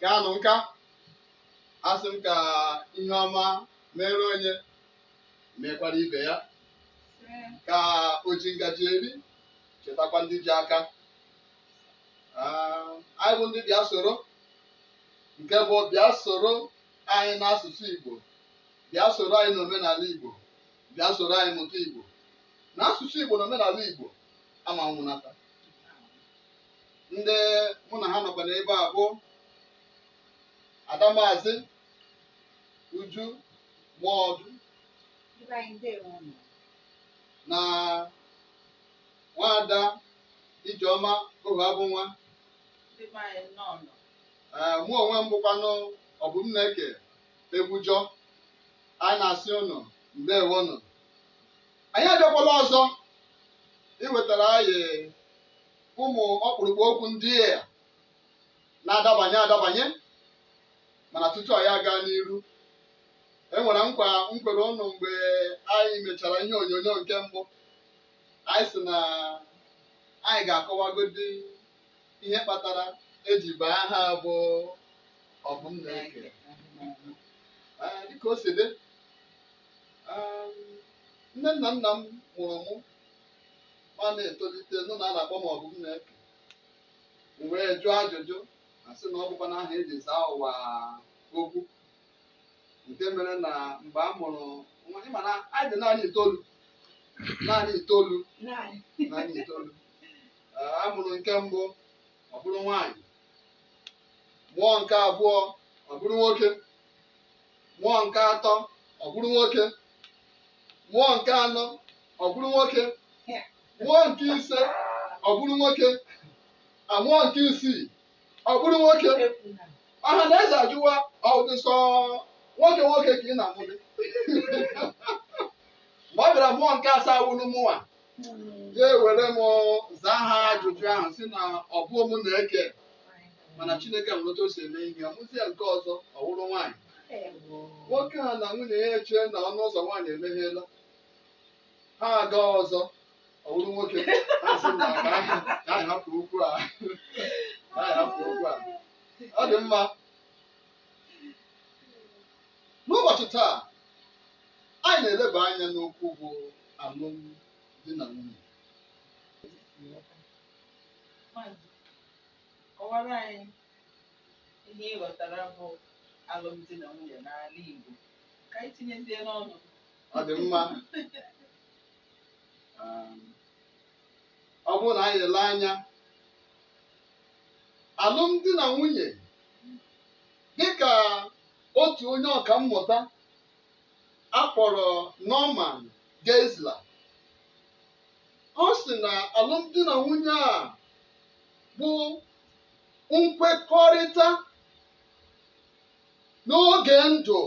kaanụ nka asị m ka ihe ọma mere onye mekwara ibe ya ka o ji ngaji eri chetakwa ndị ji aka Ah, anyị bụ ndị bịa soro nke bụ bịa soro anyị n'asụsụ Igbo bịa soro anyị n'omenala Igbo bịa soro anyị mụta Igbo na asụsụ Igbo na omenala Igbo ama nwụnata ndị mụ na ha nọkwa n'ebe a bụ ada maazị uju mọọdụ Ndị be anyị ndewo nụ. na nwaada ijeọma Ohuabụnwa Ndị be anyị nnọọ nụ. Ee, mụ onwe m bụkwanụ Ọbụmneke Egbujọ anyị na-asị ụnụ ndewonụ anyị abịakwala ọzọ iwetara anyị ụmụ ọkpụrụkpụ okwu ndị a na-adabanye adabanye mana tutu anyị aga n'iru enwere nkwa m kwere ụnụ mgbe anyị mechara ihe onyonyo nke mbụ anyị sị na anyị ga-akọwagodi ihe kpatara eji baa aha bụ Ọbụmneke Ee, dịka o si dị um, nne na nna m mụrụ mụ ma na-etolite nụ na a na-akpọ m Ọbụmneke m wee jụọ ajụjụ asị na ọ bụkwanụ aha eji zaa ụwa okwu nke mere na mgbe a mụrụ nwa ị ma na anyị dị naanị itoolu naanị itoolu naanị itoolu Ee, a mụrụ nke mbụ ọ bụrụ nwaanyị mụọ nke abụọ ọ bụrụ nwoke mụọ nke atọ ọ bụrụ nwoke mụọ nke anọ ọ bụrụ nwoke mụọ nke ise ọ bụrụ nwoke amụọ nke isii ọ bụrụ nwoke ọha na eze ajụwa ọ dị sọ nwoke nwoke ka ị na-amụdị mgbe ọ bịara mụọ nke asaa wụrụ mụnwa ya ewere m zaa ha ajụjụ ahụ sị na ọ bụ m na-eke mana Chineke nwere otu o si eme ihe ọ mụzie nke ọzọ ọ wụrụ nwaanyị nwoke a na nwunye ya echee na ọnụ ụzọ nwaanyị emeghela ha aga ọzọ ọ wụrụ nwoke ha sị na ka anyị ka anyị hapụ okwu a ka anyị hapụ okwu a ọ dị mma N'ụbọchị taa, anyị na-eleba anya n'okwu bụ alụmdi na nwunye. Maazị, kọwara anyị ihe ị ghọtara bụ alụmdi na nwunye n'ala Igbo ka anyị tinyezie n'ọnụ. Ọ dị mma. Um, Ọ bụrụ na anyị ele anya, alụmdi na nwunye Dịka otu onye ọka mmụta a kpọrọ Norman Geisler, ọ sị na alụmdi na nwunye a bụ nkwekọrịta n'oge ndụ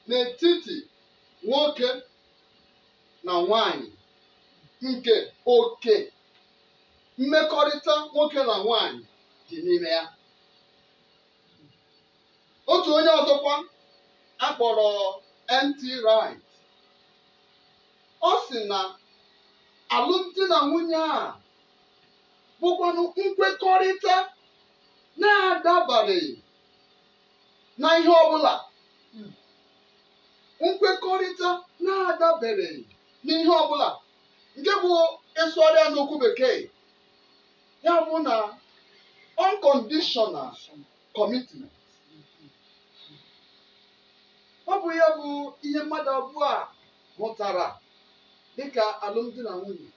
n'etiti nwoke na nwanyị nke oke mmekọrịta nwoke na nwanyị dị n'ime ya. otu onye ọzọkwa a kpọrọ N.T. Wright ọ sị na alụmdi na nwunye a bụkwanụ nkwekọrịta na-adabareghị na ihe ọbụla nkwekọrịta na-adabereghị n'ihe ọbụla nke bụ ị sụgharịa n'okwu bekee ya bụ na unconditional commitment ọ bụ ya bụ ihe mmadụ abụọ a hụtara dịka alụmdi na nwunye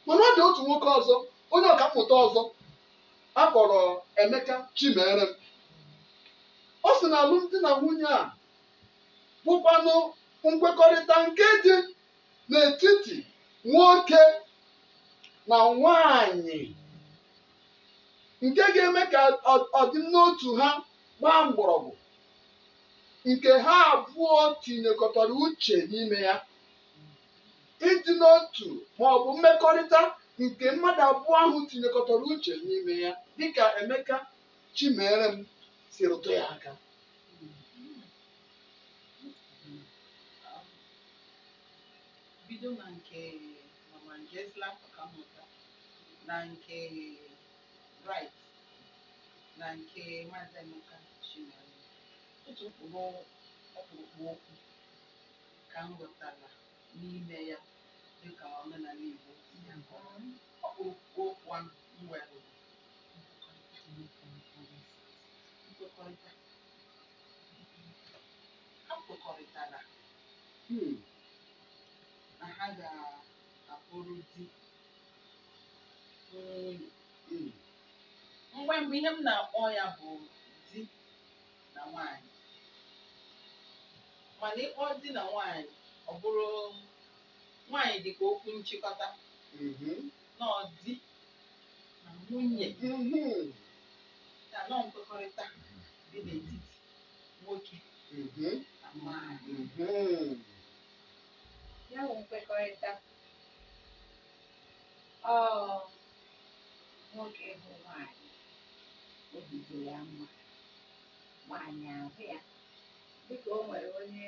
mana ọ dị otu nwoke ọzọ onye ọka mmụta ọzọ a kpọrọ Emeka Chimerem ọ sị na alụmdi na nwunye a bụkwanụ nkwekọrịta nke dị n'etiti nwoke na nwanyị nke ga-eme ka ọ- ọdịmnotu ha gbaa mgbọrọgwụ nke ha abụọ tinyekọtara uche n'ime ya ịdị n'otu ma ọ bụ mmekọrịta nke mmadụ abụọ ahụ tinyekọtara uche n'ime ya dịka Emeka Chimerem si rụtụ ya aka bido na nke Norman Geisler Ọkammụta na nke Wright na nke Maazị Emeka Chimerem otu mkpụrụ ọkpụrụkpụ okwu ka m ghọtara n'ime ya dịka omenala Igbo si akọwa ọkpụrụkpụ okwu ahụ m were nkwekọrịta Ha kwekọrịtara um na ha ga-abụrụ di na nwunye. um Mgbe mgbe ihe m na-akpọ ya bụ di na nwaanyị. Mana ịkpọ di na nwaanyị, ọ bụrụ nwaanyị dị ka okwu nchịkọta, Mhm. na ọ di na nwunye Mhm. ya na ọ nkwekọrịta dị n'etiti nwoke Mhm. na nwaanyị Mhm. ya bụ nkwekọrịta ọ nwoke ịhụ nwaanyị obi dị ya mma nwaanyị ahụ ya dịka o nwere onye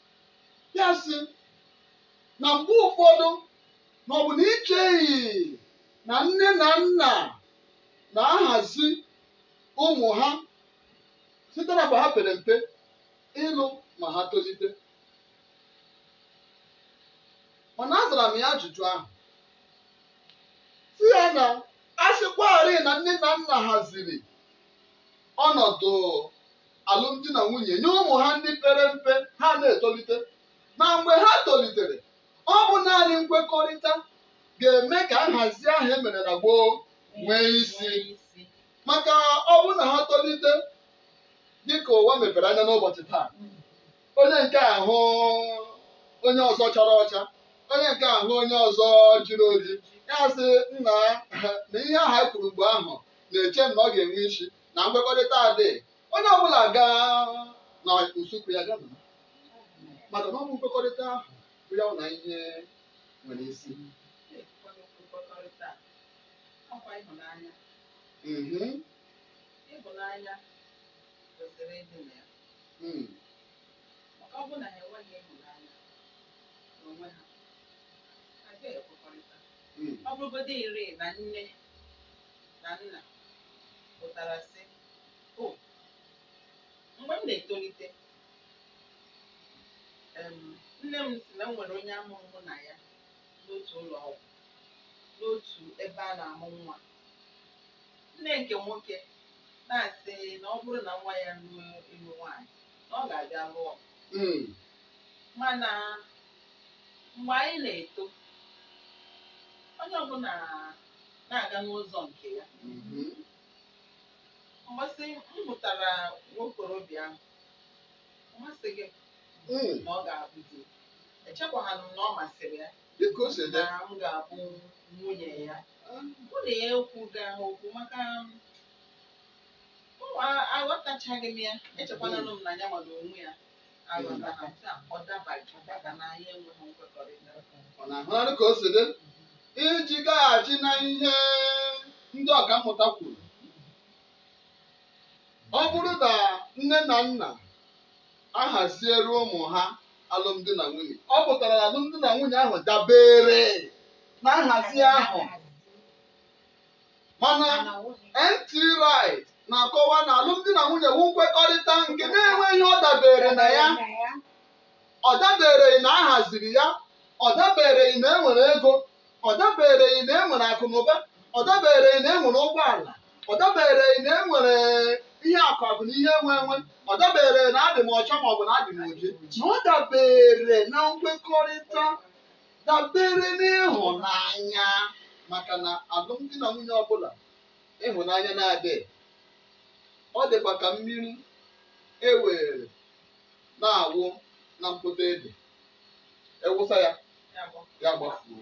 ya sị na mgbe ụfọdụ na ọ bụ na i cheghị na nne na nna na-ahazi ụmụ ha site na mgbe ha pere mpe ịlụ ma ha tolite mana azara m ya ajụjụ ahụ sị ya na a sịkwarị na nne na nna haziri ọnọdụ alụmdi na nwunye nye ụmụ ha ndị pere mpe ha na-etolite ma mgbe ha tolitere ọ bụ naanị nkwekọrịta ga-eme ka nhazi ahụ e mere na gboo nwee isi maka ọ bụ na ha tolite dịka ụwa mepere anya n'ụbọchị taa onye nke a hụ onye ọzọ chara ọcha onye nke a hụ onye ọzọ jiri oji ya sị nna na ihe ahụ anyị kwuru mgbe ahụ na-eche m na ọ ga-enwe isi na nkwekọrịta adịghị onye ọbụla gaa na usekwu ya gaa nọrọ. maka na ọ bụ nkwekọrịta ahụ bụ ya na ihe nwere isi Mhm. Mm. Mm. ọ bụrụgodịrị na nne na nna pụtara sị, O, mgbe m na-etolite, em, nne m sị na m nwere onye a mụrụ mụ na ya n'otu ụlọ ọgwụ, n'otu ebe a na-amụ nwa. Nne nke nwoke na-asị na ọ bụrụ na nwa ya ruo ịlụ nwaanyị, na ọ ga-abịa lụọ m. Mm. Mana mgbe anyị na-eto, onye ọbụla na-aga n'ụzọ nke ya. Mgbasị m hụtara nwokorobịa ahụ, ọ masịghị m Mm. na ọ ga-abụ di. Echekwaghị m na ọ masịrị ya Dịka o si dị. na m ga-abụ nwunye ya. Mụ na ya ekwughị okwu maka aghọtachaghị m ya. Echekwananụ m na ya nwere onwe ya. Ọ na-ahụnarị ka o si dị iji gaghachi na ihe ndị ọkammụta kwuru ọ bụrụ na nne na nna ahaziere ụmụ ha alụmdi na nwunye ọ pụtara na alụmdi na nwunye ahụ dabeere na nhazi ahụ mana NT Wright na-akọwa na alụmdi na nwunye wụ nkwekọrịta nke na-enweghị ihe ọ dabeere na ya ọ dabeereghị na a haziri ya ọ dabeereghị na e nwere ego ọ dabeereghị na e nwere akụ na ụba ọ dabeereghị na e nwere ụgbọala ọ dabeereghị na e nwere ihe akụ akụ na ihe enwe enwe ọ dabeereghị na adị m ọcha ma ọ bụ na adị m oji na ọ dabeere na nkwekọrịta dabere n'ịhụnanya maka na alụmdi na nwunye ọbụla ịhụnanya na-adịghị ọ dịkwa ka mmiri e were na-awụ na mpoto ede e wụsa ya ya gbafuo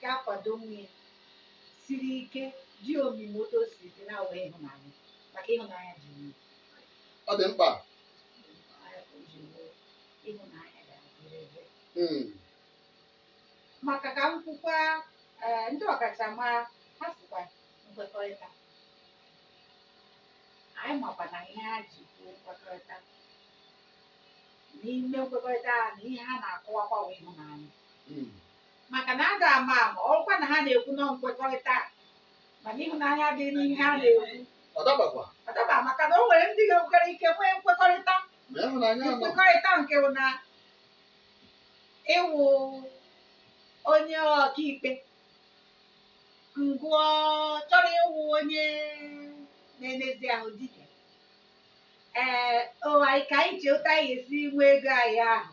ga-akwado onwe ya siri ike dị omimi otu o siri dị na-awụghị ịhụnanya maka ịhụnanya ji nwe ọ dị mkpa ịhụnanya ga-adịrị ebe Mm. maka ka m kwukwa ee, ndị ọkachamara ha sịkwa nkwekọrịta anyị makwa na ihe ha ji kwuo nkwekọrịta n'ime nkwekọrịta ha na ihe ha na-akọwakwa wụ ịhụnanya Mm. maka na a ga-ama ama ọkwa na ha na-ekwu na nkwekọrịta mana ịhụnanya dị n'ihe ha na-ekwu ọ dabakwa ọ daba maka na o nwere ndị ga-enwere ike nwee nkwekọrịta ma ịhụnanya nọ nkwekọrịta nke bụ na ị wụ onye ọkaikpe mụwa chọrọ ịwụ onye na-enezi ahụ ike ee oya ka anyị chee otu anyị ga-esi nwee ego anyị ahụ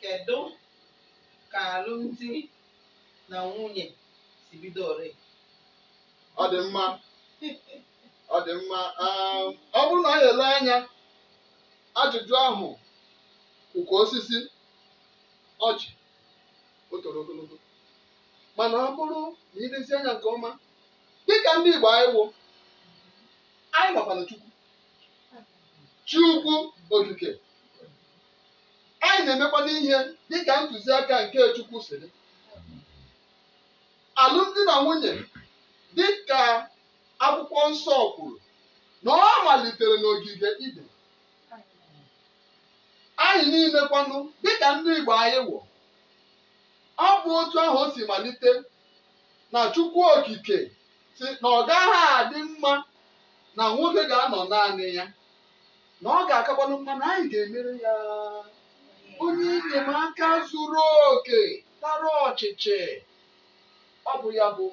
Kedụ ka alụmdi na nwunye si bido ore? Ọ dị mma. Ọ dị mma. Um, Ọ bụrụ na anyị ele anya ajụjụ ahụ ọ ka osisi ọjị o toro ogologo mana ọ bụrụ na i lezie anya nke ọma dịka ndị Igbo anyị wụ anyị makwana Chukwu Chukwu okike anyị na-emekwanụ ihe dịka ntụziaka nke Chukwu si dị alụmdi na nwunye dịka akwụkwọ nsọ kwuru na ọ malitere n'ogige Iden anyị niile kwanụ dịka ndị Igbo anyị wụ ọ bụ otu ahụ o si malite na Chukwu Okike sị na ọ gaghị adị mma na nwoke ga-anọ naanị ya na ọ ga-akakwanụ mma na anyị ga-emere ya onye enyemaka zuru oke tara ọchịchị ọ bụ ya bụ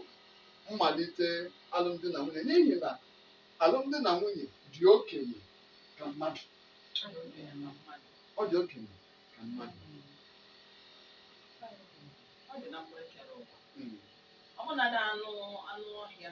mmalite alụmdi na nwunye n'ihi na alụmdi na nwunye dị okenye ka mmadụ ọ dị okenye ka mmadụ Ọ dị na mgbe e kere ụwa. Mm. Ọ bụ na anụ anụ ọhịa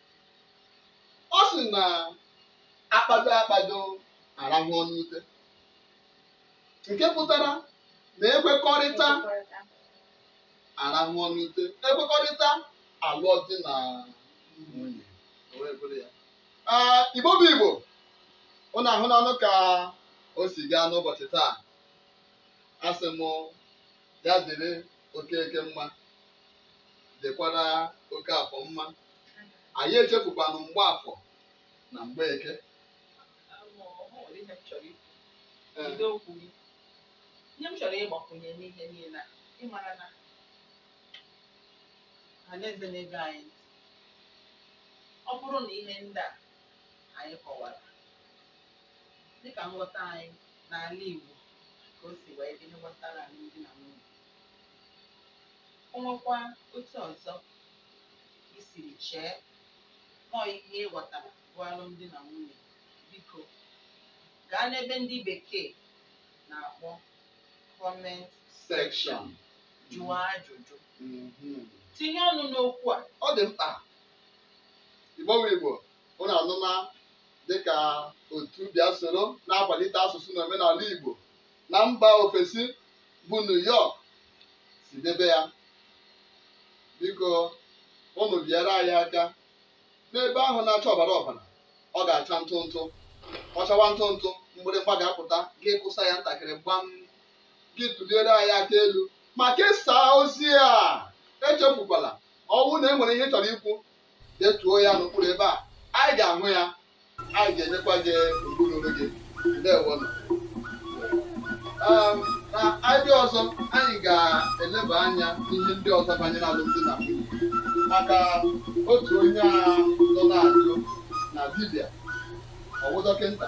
ọ sị na akpado akpado arahụ n'ute nke pụtara na ekwekọrịta arahụ n'ute ekwekọrịta alụọ di na nwunye O wee bụrụ ya. Ah, Igbo bụ Igbo ụnụ ahụnanụ ka o si gaa n'ụbọchị taa asị m ya dịrị Okeke mma dịkwara Okafọ mma anyị echefukwanụ Mgbafọ na Mgbeke Ee, Bido okwu gị. Ihe m chọrọ ịgbakwunye n'ihe niile a, ị mara na ọha na eze na-ege anyị ntị. Ọ bụrụ na ihe ndị a anyị kọwara, dịka nghọta anyị n'ala Igbo ka o si wee dị ihe gbasara alụmdi na nwunye, o nwekwa otu ọzọ i siri chee na ọ ihe ị ghọtara bụ alụmdi na nwunye, biko gaa n'ebe ndị Bekee na-akpọ comment Section. jụọ ajụjụ. Mhm. Tinye ọnụ n'okwu a. ọ dị mkpa Igbo nwe Igbo ụnụ anụma dịka otu bịa soro na-akwalite asụsụ na omenala Igbo na mba ofesi bụ New York si debe ya biko ụnụ biere anyị aka n'ebe ahụ na-acha ọbara ọbara ọ ga-acha ntụ ntụ ọ chawa ntụ ntụ mgbịrịgba ga-apụta gị kụsa ya ntakịrị gbam gị tụliere anyị aka elu ma kesaa ozi a echefukwala ọ wụ na e nwere ihe ị chọrọ ikwu Detuo ya n'okpuru ebe a. Anyị ga-ahụ ya. Anyị ga-enyekwa gị ubu ruru gị. Ndewonụ. Um, na anyị bịa ọzọ anyị ga-eleba anya n'ihe ndị ọzọ banyere alụmdi na nwunye maka otu onye a nọ na-ajụ na dibịa ọ wụ dọkịta